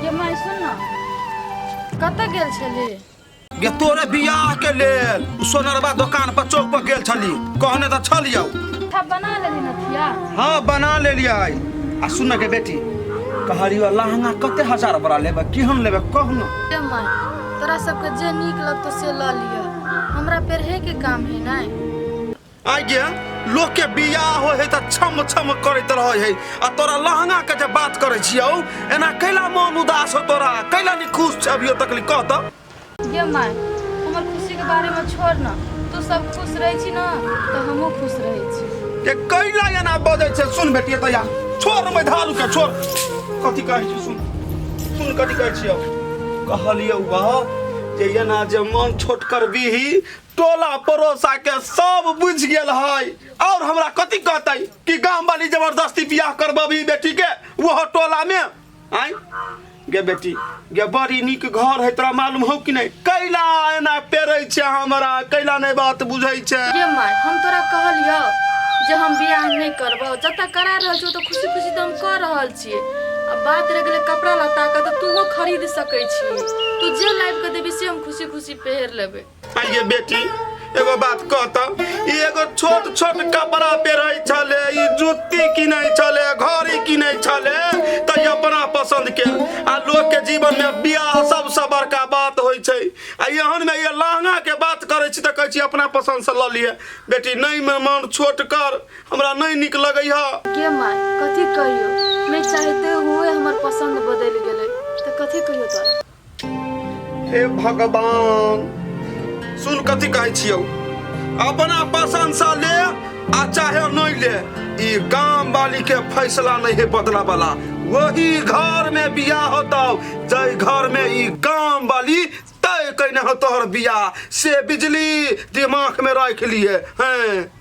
ये माय सुन ना कतऽ गेल छली गे तोरे बियाह के लेल सोनरबा दुकान पर चौक पर गेल छली कहने तऽ छल यौ था बना लेली नथिया हाँ बना ले लिया आई आ सुन के बेटी कहलियो लहंगा कते हजार बड़ा लेबे केहन लेबे कहू ना ये माय तोरा सबके जे नीक लगतो से लऽ लिअ हमरा पेरहे के काम है नै आइ गे लोग के बियाह हो है त छम छम करैत रहै है आ तोरा लहंगा के जे बात करै छियौ एना कैला मन उदास हो तोरा कैला नि खुश छ अभियो तक कह त ये माय हमर खुशी के बारे में छोड़ ना तू सब खुश रहै छी ना तो हमहू खुश रहै छी के कैला एना बजै छै सुन बेटिए तया छोड़ मै धालू के छोड़ कथी कहै छी सुन सुन कथी कहै छियौ कहलियौ बा जे एना जे मन छोट करबीही टोला पड़ोसा के सब बुझ गेल है और हमरा कथी कहतै कि गांव वाली जबरदस्ती बियाह करबबी बेटी के वो टोला में आय गे बेटी गे बड़ी नीक घर है तोरा मालूम हौ कि नहीं कैला एना पेरै छै हमरा कैला नहीं बात बुझै छै गे माय हम तोरा कहलियौ जे हम बियाह नहि करबौ जतऽ करा रहल छौ तऽ खुशी खुशी तऽ हम कऽ रहल छी आ बात रह गेलै कपड़ा लत्ता के तऽ तूहो खरीद सकै छी तू जे लाइब के देबी से हम खुशी खुशी पहिर लेबै आइए बेटी एगो बात कहता ई एगो छोट छोट कपड़ा पेरै छले ई जूती किनै छले घड़ी किनै छले त ई अपना पसंद के आ लोग के जीवन में बियाह सबसे बड़का बात होय छै आ एहन में ये लहंगा के बात करै छी त कहै छी अपना पसंद से ल लिए बेटी नहीं में मन छोट कर हमरा नहीं निक लगे है के माय कथी कहियो मैं चाहते हुए हमर पसंद बदल गेले त कथी कहियो तोरा हे भगवान सुन कथी कहै छियौ अपना पसंद से ले आ चाहे नहीं ले ई गांव वाली के फैसला नहीं है बदला वाला वही घर में बियाह होतौ जय घर में ई गांव वाली तय कइने हो तोहर बियाह से बिजली दिमाग में रख लिए हैं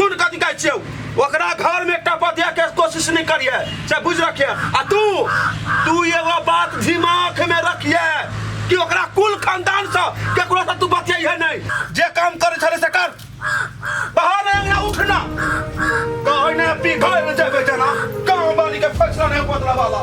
सुन कथी कहै छियौ ओकरा घर में एकटा बतिया के कोशिश नहीं करिए से बुझ रखिए आ तू तू एगो बात दिमाग में रखिए कि ओकरा कुल खानदान से केकरो से तू बतियाइए नहीं जे काम करे छले से कर बाहर अंगना उठना कहै ने पिघल में जेबे जना गांव वाली के फैसला नहीं बदला वाला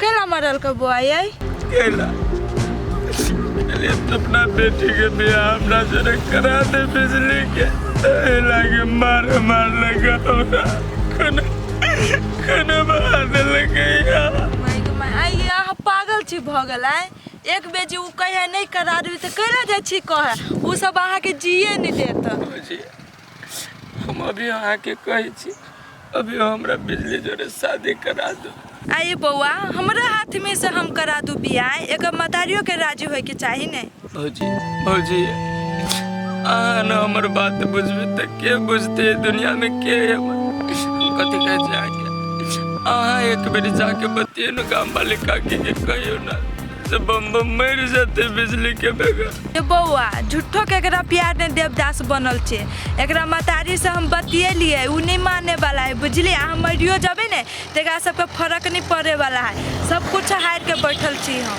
केला मरल के बुआ ये केला अरे तो अपना बेटी के बियाह अपना जरे करा दे बिजली के ए लागे मार मार लगा होगा कने कने मार दे लगे यार माय गो माय आई ये अहाँ पागल छी भऽ गेल आय एक बेर जे ओ कहे नहि करा देबै तऽ कैला जाइ छी कहे ओ सब अहाँके जिए नहि देत जी हम अभी अहाँ के कहे छी अभी हमरा बिजली जोरे शादी करा दो आइए बौआ हमरा हाथ में से हम करा दू बियाह एक मतारियों के राजी होए के चाही ने भौजी भौजी अहाँ न हमर बात बुझबे त के बुझते दुनिया में के है हमर? हम कथी कहे छी अहाँ के अहाँ एक बेर जाके बतिये न गाम वाले काकी के कहियो ना से बम बम मर जाते बिजली के बेगा ये बौआ झूठो के एकरा प्यार ने देवदास बनल छे एकरा मतारी से हम बतियलिए उ नहीं माने वाला है बुझलिए अहाँ मरियो जबे ने तो एकरा सबके फर्क नहीं पड़े वाला है सब कुछ हार के बैठल छी हम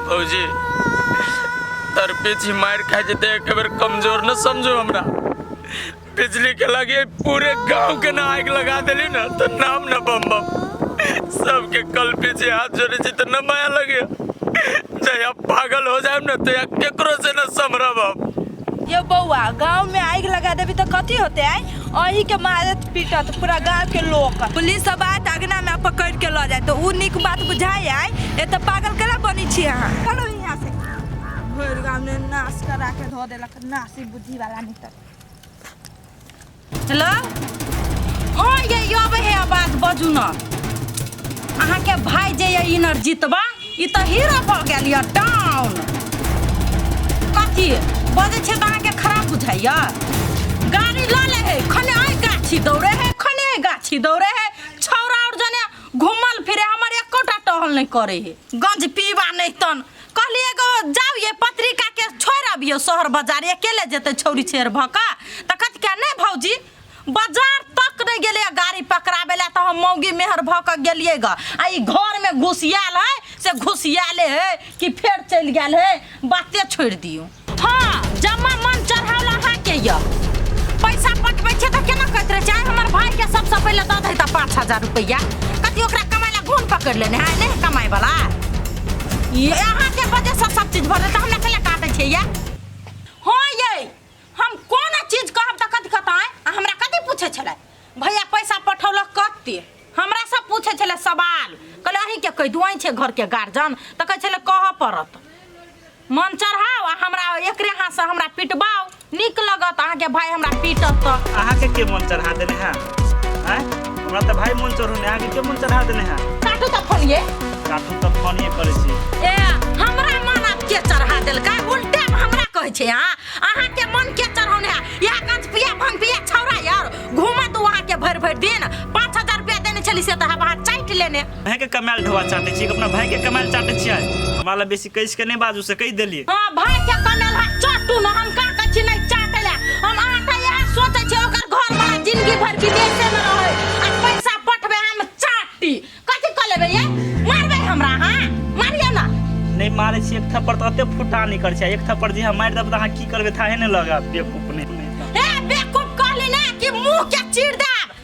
भौजी तर पीछे मार खा जेते एक बेर कमजोर न समझो हमरा बिजली के लगे पूरे गांव के ना आग लगा देली ना तो नाम ना बम बम सबके कल पीछे हाथ जोड़े छी तो ना माया लगे जया पागल हो जाए ना तो या केकरो से ना समरा बाप ये बउआ गांव में आग लगा देबी तो कथी होते आई अही के मारत पीटत पूरा गांव के लोग पुलिस सब आत अगना में पकड़ के ल जाए तो उ निक बात बुझाए आई ए तो पागल केला बनी छी अहाँ चलो यहाँ से भरि गांव ने नाश करा के धो देलक नासी बुद्धि वाला निकल हेलो ओ ये अब हे बात बजू न अहाँ के भाई जे ये इनर जीतबा ई त हीरो भ गेल ये डाउन कथी बजे छे त अहाँ के खराब बुझाइया गाड़ी ल ले हे खने आई गाछी दौड़े हे खने आई गाछी दौड़े हे छौरा और जने घूमल फिरे हमर एकोटा टहल नहीं करे हे गंज पीबा नहीं तन कहली एगो जाऊ ये पत्रिका के छोड़ अबियो शहर बाजार अकेले जेते छौरी छेर भका त कत क्या नहीं भौजी बाजार तक नहीं गेले गाड़ी पकड़ाबे ला तो हम मौगी मेहर भक गेलिए ग आ ई घर में घुसियाल है से घुसियाले है कि फेर चल गेल है बाते छोड़ दियो हाँ जम्मा मन चढ़ावल अहाँ के ये पैसा पठबै छै तऽ केना कहैत रहै छै आइ हमर भाई के सबसे पहिले दऽ दे तऽ पाँच हजार रुपैया कथी ओकरा कमाय ला घून पकड़ लेने है नहीं कमाय वाला ये अहाँ के वजह से सब चीज भर तऽ हमरा कैला काटै छै ये हाँ ये हम कोन चीज कहब तऽ कथी कहता है आ हमरा कथी पूछे छलै भैया पैसा पठौलक कते हमरा सब पूछे छलै सवाल कहले अहीं के कहि दू अहीं छै घर के गार्जियन तऽ कहै छलै कहऽ पड़त मन चढ़ाओ आ हमरा एकरे हाथ से हमरा पिटबाओ निक लगत अहाँ के भाई हमरा पीटत तो अहाँ के के मन चढ़ा देने है हैं हमरा त भाई मन चढ़ो ने अहाँ के के मन चढ़ा देने है काटू तो फोन ये काटू त फोन ये करे छी ए हमरा मन आप के चढ़ा देल का उल्टे में हमरा कहै छै हां अहाँ के मन के चढ़ौने या कंच पिया भंग पिया छौरा यार घुमत वहां के भर भर दिन 5000 रुपया देने छली से त हम अहाँ चाट लेने अहाँ के कमाल ढोआ चाटे छी अपना भाई के कमाल चाटे छी हमरा ला बेसी कैस के नहीं बाजू से कह दिलिए हां भाई के कनल है चट्टू न हम का कह छी नहीं चाटे ले हम आटा यह सोचे छी ओकर घर वाला जिंदगी भर विदेशे में रहे आ पैसा पठबे हम चाटी कथि क लेबे ये मारबे हमरा हां मारियो ना नहीं मारे छी एक थप्पड़ तो अते फुटा नहीं कर छै एक थप्पड़ जे हम मार देब त हां की करबे थाहे नहीं लगा बेवकूफ नहीं ए बेवकूफ कहली ना कि मुंह के चीर देब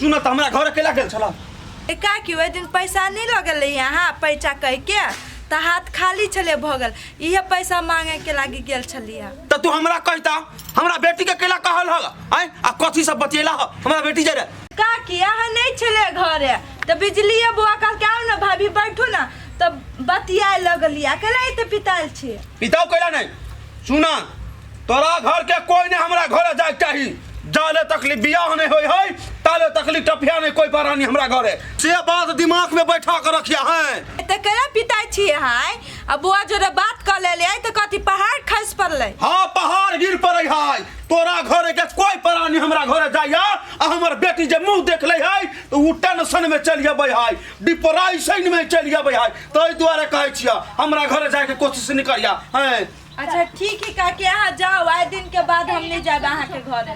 सुन त हमरा घर अकेला गेल छला ए का कि ओहि दिन पैसा नहीं लगल रही यहाँ पैसा कह के त हाथ खाली छले भगल इहे पैसा मांगे के लागी गेल छलिया त तू हमरा कहता हमरा बेटी के अकेला कहल हल आय आ कथी सब बतियला ह हमरा बेटी जरे का कि यहाँ नहीं छले घरे त बिजलिया बुआ कह के आओ ना भाभी बैठू ना त बतिया लगलिया अकेले ही त पिताल छी पिताओ कैला नहीं सुना तोरा घर के कोई ने हमरा घरे जाए चाही जाले तकली बियाह नहीं होई है ताले तकली टपिया नहीं कोई परानी हमरा घरे से बात दिमाग में बैठा के रखिया है तऽ करा पिता छिए हाय आ बुआ जोरे बात कऽ लेले आइ तऽ कथी पहाड़ खसि पड़लै हाँ पहाड़ गिर पड़े है तोरा घरे के कोई परानी हमरा घरे जाइया आ हमर बेटी जे मुंह देख ले है तो उ टेंशन में चल जाबे है डिप्रेशन में चल जाबे है ताहि दुआरे कहे छिया हमरा घरे जाए के कोशिश नहीं करिया हैं अच्छा ठीक है काकी अहाँ जाओ आए दिन के बाद हम नहीं जाए अहाँ के घर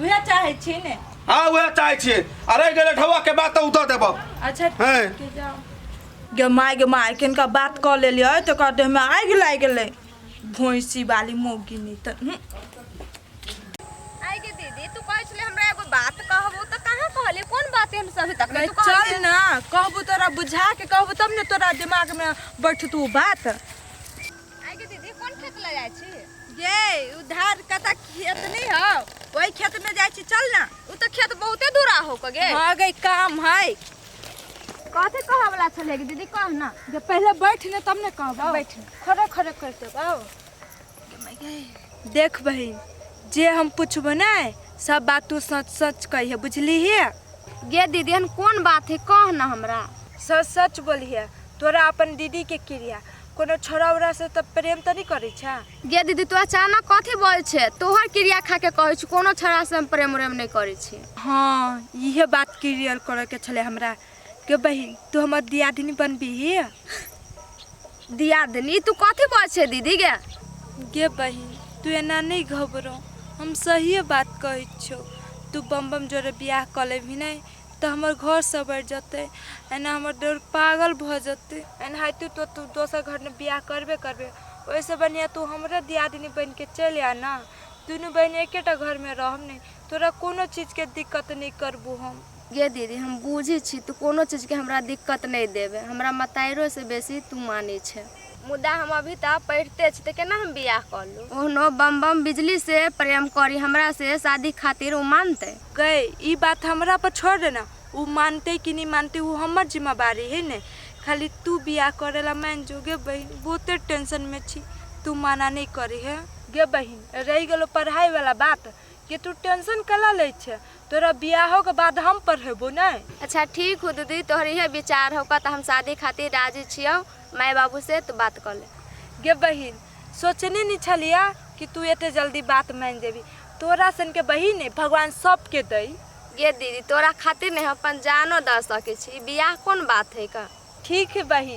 वह चाहे छी ने हाँ वह चाहे छे अरे गए ठवा के बात तो उतर देबो अच्छा हैं? ठीक है जाओ गे माय गे माय किनका बात कऽ लेलियै तऽ ओकर देहमे आगि लागि गेलै भैंसी वाली मौगी नहि तऽ हूँ। आई के दीदी तू कहै छले हमरा एगो बात कहबो त कहां कहले कोन बात हम सब तक नहि, चल ने कहबू तोरा बुझा के कहबू तब ने तोरा दिमागमे बैठतू बात आइ के दीदी कोन खेत ले जाइ छी ये उधार कता खेत नहीं हो वही खेत में जाइ छी चल ना उ तो खेत बहुते दूरा हो के गे हां गई काम है कथी कहे वाला छले गे दीदी कह ना जब पहले बैठ ने तब ने कहबो बैठ खड़े खड़े कर देबो देख बहिन जे हम पूछबो ना सब बात तू सच सच कहिए बुझली है गे दीदी एहन कोन बात है कह ना हमरा सच सच बोलिए तोरा अपन दीदी के क्रिया कोनो छोरा उरा से तब प्रेम तो नहीं करे छा गे दीदी तू अचानक कथी बोल छे तोहर क्रिया खा के कहै छी कोनो छड़ा से हम प्रेम उरेम नहीं करै छी हाँ यह बात क्लियर करे के छले हमरा के बहन तू हमर दियादिनी बनबी ही दियादनी तू कथी बोल छे दीदी गे गे बहन तू एना नहीं घबरो हम सही बात कहै छो तू बम बम जोरे बियाह कर लेबही नहीं तऽ हमर घर सब बढ़ि जेतै एना हमर देवर पागल भऽ जेतै एनाहिते तू तू दोसर घरमे बियाह करबे करबे ओहिसँ बढ़िआँ तू हमरे दियादिनी बनिके चलि आ ने दुनू बहिन एकेटा घरमे रहब ने तोरा कोनो चीजके दिक्कत नहि करबू हम गे दीदी हम बुझै छी तू कोनो चीजके हमरा दिक्कत नहि देबे हमरा मतारियोसँ बेसी तू मानै छै मुदा हम अभी तऽ पढ़िते छी तऽ केना हम बियाह कऽ लू ओहनो बम बम बिजली से प्रेम करी हमरा से शादी खातिर ओ मानतै गै ई बात हमरा पर छोड़ दे ना उ मानते कि नहीं मानते वो हमर जिम्मेवारी है ने खाली तू बियाह करे ला मान जो गे बहन बहुते टेंशन में छी तू माना नहीं करे है गे बहन रह गलो पढ़ाई वाला बात कि तू टेंशन कला ले छे तोरा बियाहो के बाद हम पढ़ेबो नहीं अच्छा ठीक हो दीदी तोहर इहे विचार होका तो हम शादी खातिर राजी छियो माय बाबू से तो बात कर ले गे बहन सोचने नहि छलियै कि तू एते जल्दी बात मानि जेबी तोरा सनके बहिन ने भगवान सबके दै गे दीदी तोरा खातिर ने हम अपन जानो दऽ सकै छी बियाह कोन बात है का ठीक है बहिन